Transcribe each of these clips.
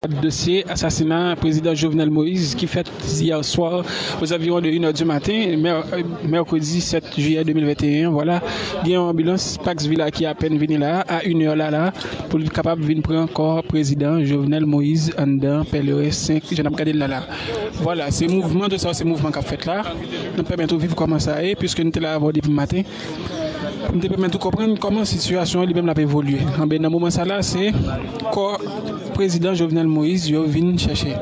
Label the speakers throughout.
Speaker 1: Dosye asasina Prezidan Jovenel Moïse ki fèt yè swa ozanviwon de 1 è di maten mèkredi 7 jiyè 2021 vwala gen yon anbilans Pax Villa ki apèn vini la a 1 è la la pou l kapab vin pran kò Prezidan Jovenel Moïse anndan Pèleren 5 jan n ap gade l la la vwala se mouvman tout sa yo se mouvman k ap fèt la n ap pèmèt ou viv kòman sa ye piske n te la avè w depi maten. M te pèmèt ou konprann kòman sitiyasyon an li menm l ap evolye. Anben, nan moman sa la, se kò prezidan Jovenel Moïse yo vin chèche.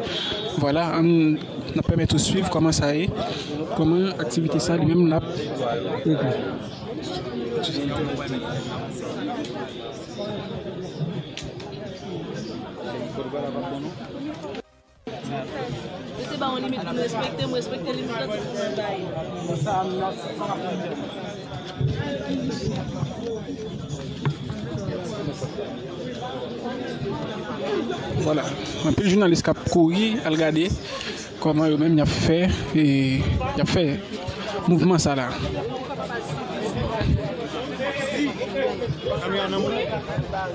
Speaker 1: Vwala, an n ap pèmèt ou suiv kòman sa ye, kòman aktivite sa li menm l ap evolye. Vwala, anpil jounalis k ap kouri al gade kòman yo menm y ap fè, y ap fè mouvman sa la.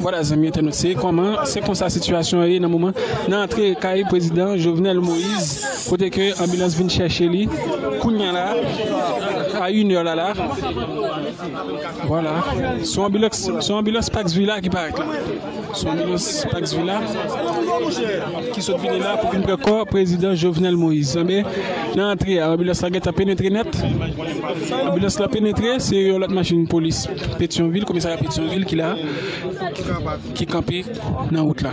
Speaker 1: Vwala zanmi entènot se koman se konsa sitiyasyon an ye nan moman nan antre kay prezidan Jovenel Moise kote ke anbilans vin chèche li kounya la a yn è la la vwala son anbilans son anbilans pax vila ki parèt la son anbilans pax vila ki sot vini la pou vin pran kò prezidan Jovenel Moise nan antre a anbilans la gentan penetre nèt. Anbilans la penetre, se yon lòt machin polis Petyonvil, komisarya Petyonvil ki la, ki kanpe nan wout la.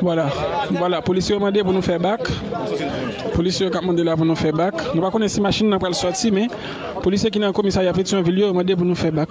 Speaker 1: Vwala vwala polisye yo mande pou nou fè bak polisye yo kap mande la pou nou fè bak nou pa konnen si machin nan pral sòti men polisye ki nan komisarya Petyonvil yo mande pou nou fè bak.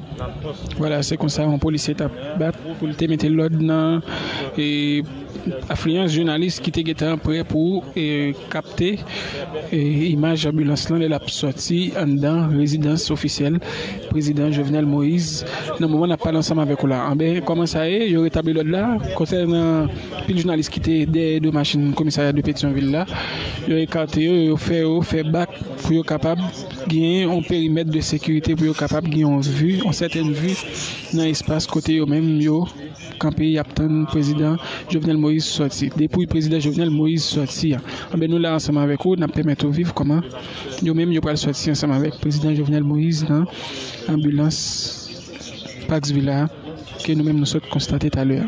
Speaker 1: Vwala se konsa yon polisye t ap bat pou l te mete lòd nan afliyans jounalis ki te gentan prè pou kapte imaj anbilans lan lè l ap sòti anndan rezidans ofisyèl prezidan Jovenel Moise nan moman n ap pale ansanm avèk ou la anben kòman sa ye yo retabli lòd la konsènan anpil jounalis ki te dèyè do machin komisarya de Petyonvil la yo ekate yo yo fè yo fè bak pou yo kapab. genyen yon perimèt de sekirite pou yo kapab gen yon vi, yon sèten vi nan espas kote yo menm yo kanpe yap tann prezidan Jovenel Moïse sòti. Depouy prezidan Jovenel Moïse sòti an, anben nou la ansanm avèk ou nap pèmèt ou viv kòman yo menm yo pral sòti ansanm avèk prezidan Jovenel Moïse nan anbilans Pax Villa a ke nou menm nou sot konstate talè a.